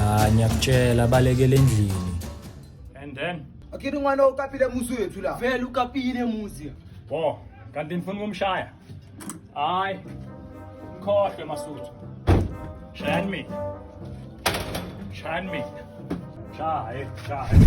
Ah, ngiyakutshela balekele endlini. And then Akiri n'wana u kapile musi wethu laha. Vele ukapile muzi. bo kanti nifuna ukumshaya. Hayi. Khohle masuthu. Shayani mina. Shayani mina. Shaye, shaye.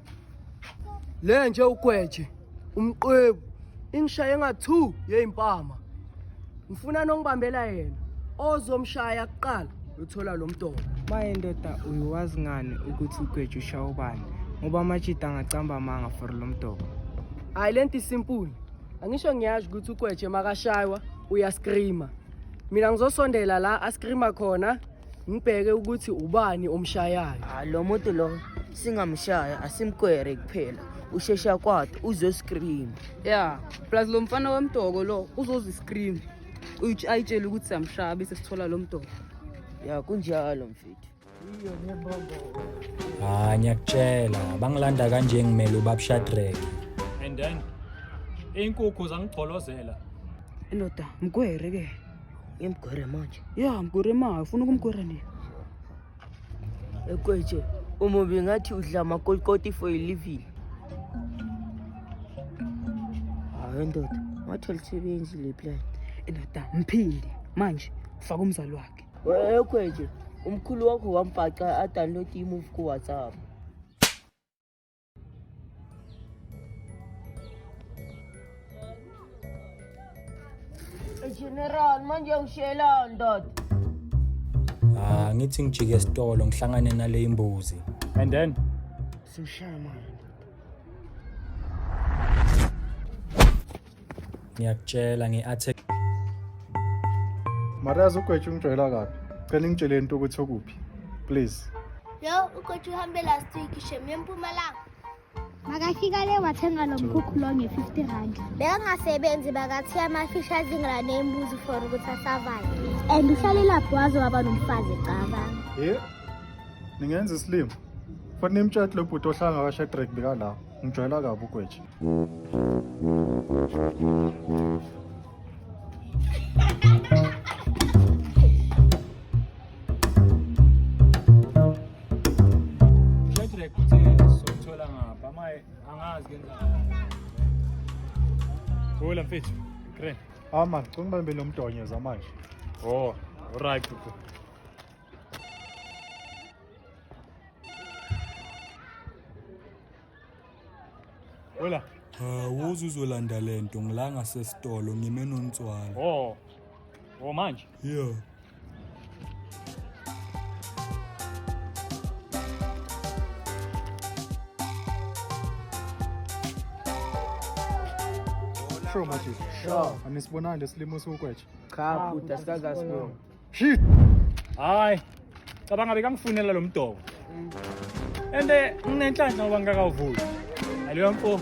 Le nje ugweje umqwebu ingishaye nga 2 yeyimpama. Ngifuna nongibambela yena ozomshaya kuqala uthola lo mdoko. Maye ndoda uyiwazi ngani ukuthi ugweje ushaya ubani ngoba amajita angacamba amanga for lo mdoko. Hayi lento isimpuli. Angisho ngiyazi ukuthi ugweje makashaywa uyascreama. Mina ngizosondela la ascreama khona ngibheke ukuthi ubani omshayayo ah, lo muntu lo singamshaya asimkwere kuphela ushesha kwade uzoscream ya plus lo mfana wemdoko lo uzoziscream ayitshele ukuthi samshaya bese sithola lo mdoko ya kunjalo mfethu hayi ngiyakutshela bangilanda kanje ngimele ubabshadrake and then inkukhu zangigqolozela indoda mkwere ke Ngimgwere manje. Yeah, mgwere manje. Ufuna ukumgwera nini? Ekweje, uma bengathi udla amakolikoti for a living. Hayi ndoda, wathola isebenzi le plan. Indoda mphili manje faka umzali wakhe. Ekweje, umkhulu wakho wamfaca a download i-move ku WhatsApp. General, manje ungishela ndoda. Ah, ngithi ngijike esitolo ngihlangane nale imbuzi. And then Simshaya manje. ngiyakutshela ngi-attack marazi ugwetsha ungijwayela kabi cela ngitshele into ukuthi okuphi please yo ugwetsha uhambe last week shem yempumalanga makafika le wathenga lo mkhukhu lo nge-fifty rand bekangasebenzi bakathiya amafishi azingela nembuzi for ukuthi asavayo and uhlalelaphi waze waba nomfazi caba ye ningenza isilimo fanele imtshathi lo bhuti ohlangakasha edrake bekalawo Ngijwayela kabi ugweja. Hola mfethu. Great. Ah man, cunga bambele umdonyo zamanje. Oh, right. Wela. Hawu uzuzolanda lento ngila ngasesitolo ngime nontswala. Oh. Oh manje. Yeah. Sure, Matthew. Sure. Anisibonani lesilimo siwukwetshe. Cha, bhuti asikaze asibone. Shit. Hayi. Cabanga bekangifunela lo mdoko. Ende nginenhlanhla ngoba ngingakawuvuli. Aleyo mfo.